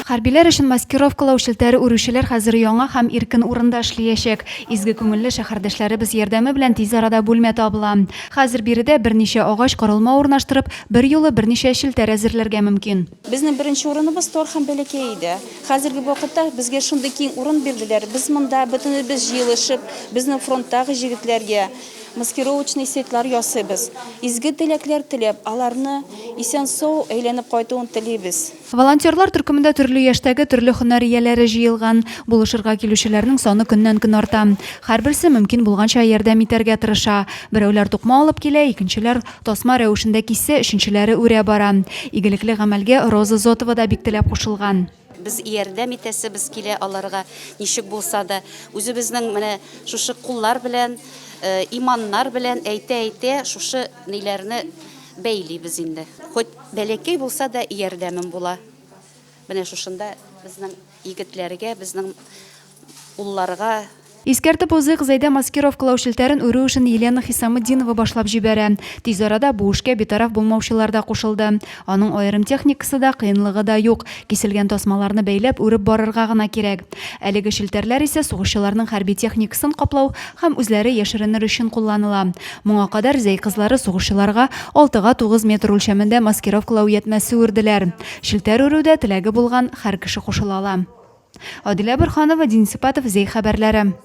Хәрбиләр өчен маскировкалау челтәре үрүчеләр хәзер яңа һәм иркен урында эшлиячәк. Изге күңелле шәһәрдәшләребез ярдәме белән тиз арада бүлмә табыла. Хәзер биредә берничә агач корылма урнаштырып, берьюлы берничә челтәр әзерләргә мөмкин. Безнең беренче урыныбыз тар һәм бәләкәй иде. Хәзерге вакытта безгә шундый киң урын бирделәр, без монда бөтенебез җыелышып, безнең фронттагы җегетләргә маскировочный сетлар ясыйбыз. Изге теләкләр теләп, аларны исән-сау әйләнеп кайтуын телибез. Волонтерлар төркемендә төрле яшьтәге, төрле һөнәр ияләре җыелган. Булышырга килүчеләрнең саны көннән-көн арта. Һәрберсе мөмкин булганча ярдәм итәргә тырыша. Берәүләр тукма алып килә, икенчеләр, Тасма рәвешендә кисә, өченчеләре үрә бара. Игелекле гамәлгә Роза Зотова да бик теләп кушылган. Без ярдәм итәсебез килә аларга, ничек булса да. Үзебезнең менә шушы куллар белән, иманнар белән әйтә-әйтә шушы ниләрне бәйлибез инде. Хоть бәләкәй булса да ярдәмем була. Менә шушында безнең егетләргә, безнең улларга. Искәртеп узыйк, Зәйдә маскировкалау челтәрен үрү эшен Елена Хисаметдинова башлап җибәрә. Тиз арада бу эшкә битараф булмаучылар да кушылды. Аның аерым техникасы да, кыенлыгы да юк, киселгән тасмаларны бәйләп, үреп барырга гына кирәк. Әлеге челтәрләр исә сугышчыларның хәрби техникасын каплау һәм үзләре яшеренер өчен кулланыла. Моңа кадәр Зәй кызлары сугышчыларга алтыга тугыз метр үлчәмендә маскировкалау уятмәсе үрделәр. Челтәр үрүдә теләге булган хәр кеше кушыла ала. Адилә Борханова, Дин Сипатов, Зей хәбәрләре.